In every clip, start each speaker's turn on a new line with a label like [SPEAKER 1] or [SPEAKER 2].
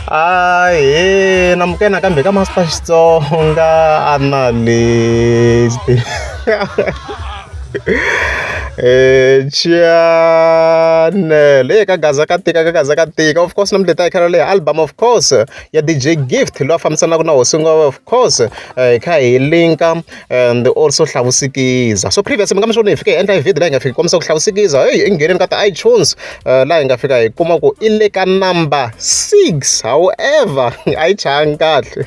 [SPEAKER 1] Ahee namukela nakambe ka Master Xitsonga Analyst eh Channel eh ka gaza ka tika ka gaza ka tika of course namuntlha hi ta hi kha ri leha album of course ya DJ Gift loyi a fambisanaka na hosi of course hi kha hi linka and also hlavusikiza so previous mi nga mi swona hi fike hi endla hi video laha hi nga fika kombisa ku hlavusikiza heyi i ngheneni ka ti-itunes laha hi nga fika hi kuma ku i le ka number six however a yi chayanga kahle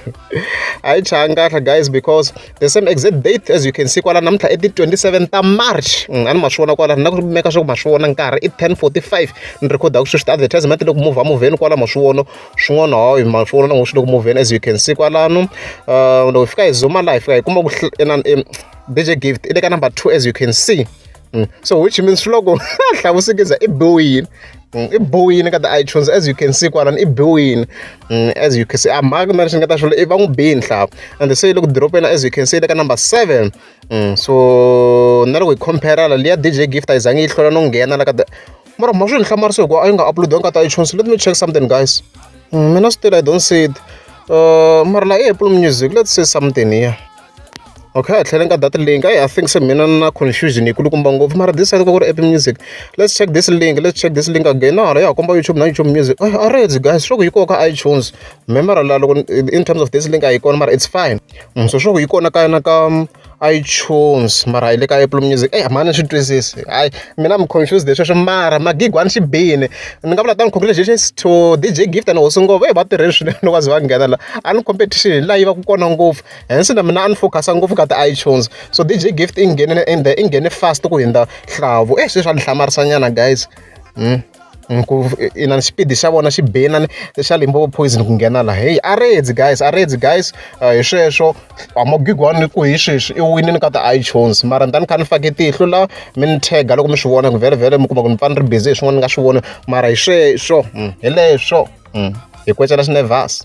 [SPEAKER 1] a yi chayanga kahle guys because the same exact date as you can see kwala namuntlha i ti-27 ta march a ni ma swi vona kwala na ku meka swa ku ma swi vona nkarhi i 1045 ni rhekhoda ku sweswi ti-advertisement loko move muvheni kwala ma swi vona swin'wana hawu hi mafoni na ngo swi loko movheni as you can see kwalano uh, loko hi fika hi zuma laha hi fika hi kuma ku dj gift i le ka number two as you can see mm. so which means swi loko hlavusikiza i biwile mm, i biwile ka ti-itunes as you can see kwalano i biwile mm, as you can see a mhaka na lexi ni nga ta xilo i va n'wi biyi nhlava and se loko diropena as you can see le ka number seven so na loko hi compare la liya dj gift a yi zange yi hlwela no nghena la ka mara ma swi ni hlamarisa hikuva a yi nga upload-iwanga ka ta iTunes let me check something guys mm, mina still i don't see it uh, mara la apple music let's say something here okay a tlhele ka that link i think se mina na confusion yi kulukumba ngopfu mara this side ka ku ri apple music let's check this link let's check this link again na hala ya komba youtube na youtube music a ah, reds guys swo ku yi koka itunes me mara la loko in terms of this link a yi kona mara it's fine mm, so swo ku yi kona ka na ka iTunes mara hi le ka Apple Music a mhani ni swi twisisi hayi mina I'm confused hi sweswo mara magigi wa ni xi bini ni nga vula than congratulations to D_J Gift and Hosi Ngopfu va tirhile swinene loko va ze va nghena la a ni competition hi laha yi va ka kona ngopfu hence na mina a ni focus-a ngopfu ka ti-iTunes so D_J Gift i nghene ende i nghene fast ku hundza Nhlavu e sweswi a ni hlamarisa nyana guys . inana xipidi xa vona xi be inana xa Limpopo poison ku nghena laha heyi a redzi guys a redzi guys hi sweswo a Magwigwani ni ku hi sweswi i winile ka ti-Itunes mara ni ta ni kha ni fake tihlo la mi ni tag-a loko mi swi vona ku vhele mi kuma ku ni pfa ni ri busy hi swin'wana ni nga swi voni mara hi sweswo hi leswo hi kwecela xinevhasi.